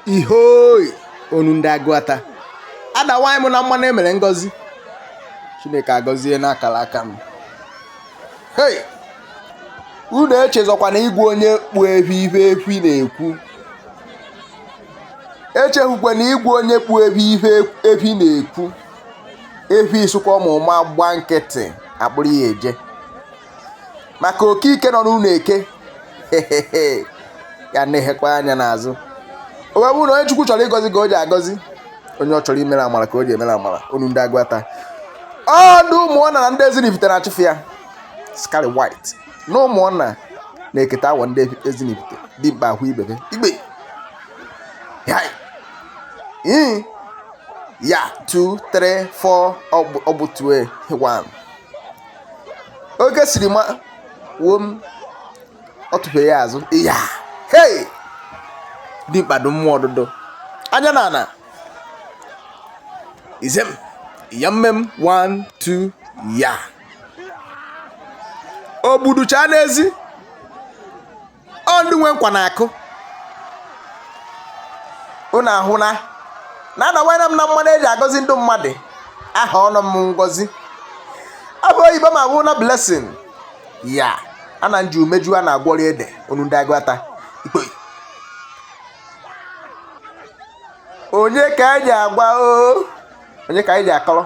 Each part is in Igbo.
ihoi onu ndị agụata adawanyị m na mmanụ emere ngọzi chineke agọzie n'akara aka m hei unu echezọkwa na igwe onye kpụ efi ife efi na-ekwu echeghukwa na igwe onye kpụ efi ife efi na-ekwu efi sụkwa ma ụma gba nkịtị akpụrụ ya eje maka okike nọ n'ụlọ eke ya na-ehekwa anya n'azụ o wee bụrụ na onye chukwu chọrọ ịgọzi ka o ji agọzi onye ọ chọrọ imere amara ka o ji emere amara unu ndị agụata ọdụ ụmụọna na ndị ezinifite na-achụfe ya skari white na ụmụọna na-eketa awọ ndị ezinifite dị mkpa ahụ ibebe igbe Yai. Mm. ya 2 3 4 ọ bụ 2 1 oge siri ma wuo m ọ tụfere ya azụ ya hei dimkpa do mmụọ ọdụdụ anya na ana izem ya mmem 1 2 ya ogbuducha n'ezi ọ ndị nwe nkwa na-akụ unu ahụna na anawara m na mmanụ eji agọzi ndị mmadụ aha ọnụ m ngọzi aha oyibo m abụ na blessing ya ana nji umeju a na-agwọrị ede onu ndị agụata ikpe onye ka anyị agwa o onye ka anyị dị akọrọ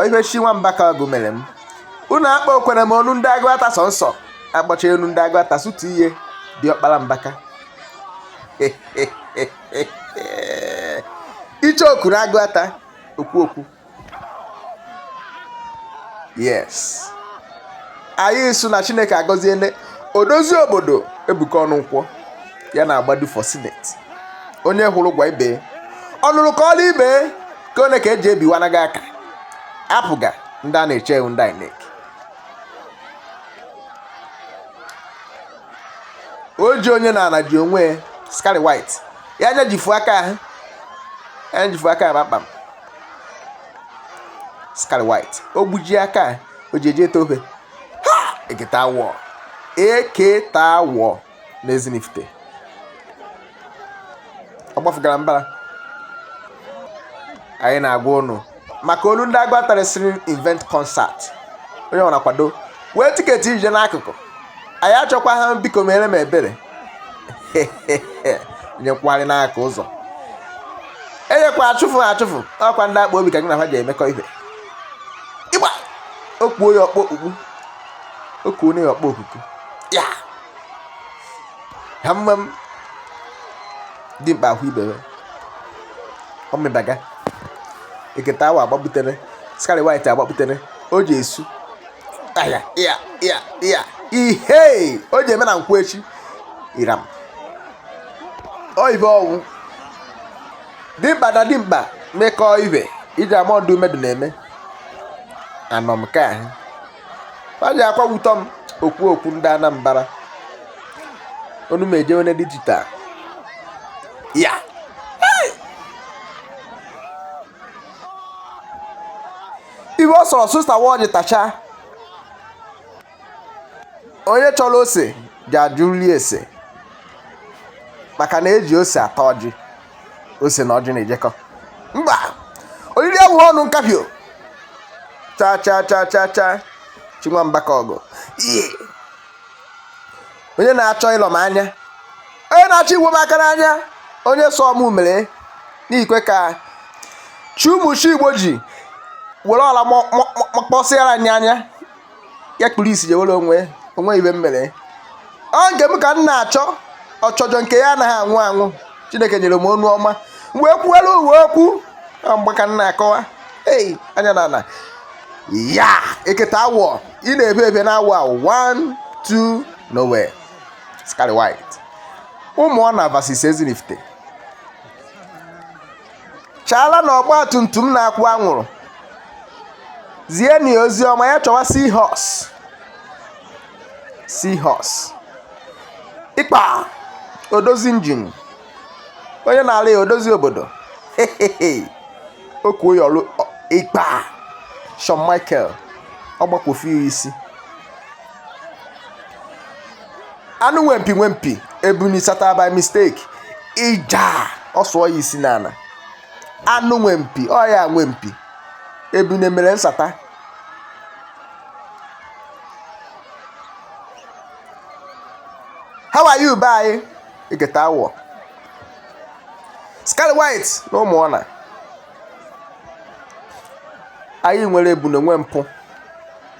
ife chi nwamba ka ọgụ mere m unu akpa okwere m onu ndị agụata sọ nsọ akpọcha onu ndị agụata sụtu ihe dị ọkpara mbaka iche oku na agụata okwu okwu yes anyị sụ na chineke agọziele odozi obodo ebuka ọnụnkwọ ya na-agbadu for senate onye hụrụ gwa ibe ọ nụrụ kaala ibe ka one ka eji ebiwana gị aka APGA ndị a na-eche ewu ndị INEC o ji onye n'ala ji onwe skari white ya anyajifu aka ahụ anyajifu aka ahụ kpamkpam skari white o gbuji aka ahụ o ji eji ete ofe ha eketa wọ eketa wọ n'Ezinifite ọ gbafugara mbara anyị na-agwa ụnụ maka onu ndị agụata rịsịrị event concert onye ọ na-akwado wee tiketi ije n'akụkụ anyị achọkwa ha biko mere m ebere nyekwagharị n'aka ụzọ enyekwa achụfụ ha achụfụ ọkwa ndị akpa obi ka gị na ha ji emekọ ihe ịgba okpuo ya ọkpọ okpukpu oku onye ọkpọ okuku ya ha mma m dimkpa hụ ibe ya ọmịbaga eketa awọ akpapụtara scarlet white akpapụtara o ji esu aya ya ya ya ihe o ji eme na nkwụ echi iram oyibe ọnwụ dimkpa na dimkpa mekọọ ibe iji ama ọdụ mmadụ na-eme anọ m ka ahụ ọ dị akwa wutọ m okwu okwu ndị anambra onu m eje onye digital ya iwe ọ sọrọ sista ọjị tacha onye chọrọ ose ọjị ajụla ese maka na eji ose ata ọjị ose na ọjị na-ejekọ mba oriri abụghị ọnụ nkapị o cha cha cha cha cha chinwamba ka ọgụ ihe onye na-achọ ịlọ m anya onye na-achọ ịbọ m aka n'anya onye sụọ mmiri n'ikwe ka chi ụmụ chi igbo ji were ọla kpọsịara ya anya ya kpuru isi jewere onwe onwe ibe m mere ọ nke m ka m na-achọ ọchọjọ nke ya anaghị anwụ anwụ chineke nyere m ọnụ ọma m wee kwuwere ụwa okwu mgbe ka m na-akọwa ei anya na ala ya eketa awọ ị na-ebe ebe na awọ awọ 1 2 nowhere scarlet white ụmụọna versus ezinifite chaala na ọgba tum tum na-akwụ anwụrụ zieni ya ozi ọma ya chọwa sihos sihos ịkpa odozi injin onye na-ala ya odozi obodo okuo ya ọrụ ịkpa Shawn Michael ọ gbakwofu ya isi anụ nwe mpi nwe mpi ebune sata by mistake ija ọ sụọ ya isi n'ala anụ nwe mpi ọ ya nwe mpi ebune mere nsata how are you be anyị eketa awọ scarlet white na ụmụọna anyị nwere ebune nwe mpi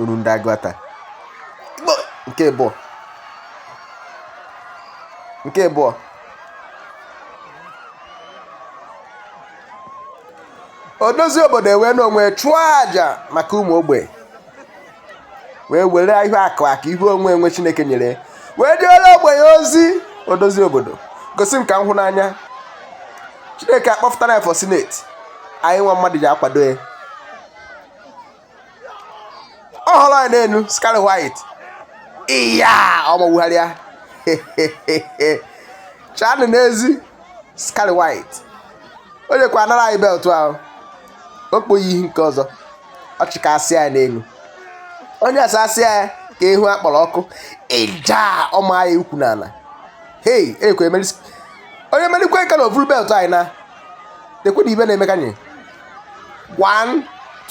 olu ndị aguata nke bụọ nke bụọ odozi obodo were onwe chụọ aja maka ụmụ ogbenye wee were ihe akụ akụ ihe enwe enwe chineke nyere wee jeere ogbenye ozi odozi obodo gosi m ka m hụ n'anya chineke akpọpụtara ya for senate anyị igwe mmadụ ji akwado ya ọ hụrụ ya n'elu scarlet white iya ọmọgbugharịa chanụ n'ezi scarlet white o jekwa anara anyị beltụ ahụ o kpoghị ihe nke ọzọ ọ chịkasịa ya n'elu onye asasịa ya ka ihu a kpọrọ ọkụ ịja ọma ya ukwu n'ala hei ekwe emeri onye merikwa Ikenna o vuru beltụ anyị na dekwe na ibe na-emeka nye one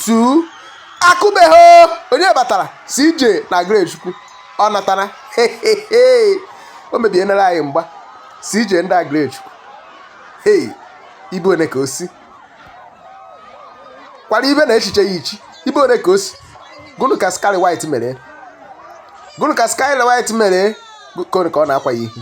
two akụbeghị onye batara CJ na Agrechukwu ọ natara o mebienere anyị mgba CJ ndị Agrechukwu hey ibe one ka o si kwara ibe na echiche ya ichi ibe one ka o si gụnụ ka Scarlet White mere gụnụ ka Scarlet White mere gụnụ ka ọ na-akwa ya ihu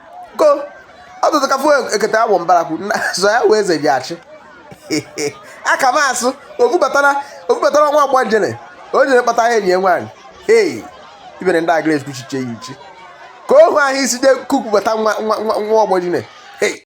ko ọtụtụ ka fụ ekete awọ mbarakwu zọ ya wee eze ji achị aka m asụ o bubatara nwa ọgbọ jine o jere kpata ya enyi nwaanyị ei ibere ndị Agrechukwu echiche ya ichi ka ohu ahụ isi de kukwubata nwa nwa nwa ọgbọ jine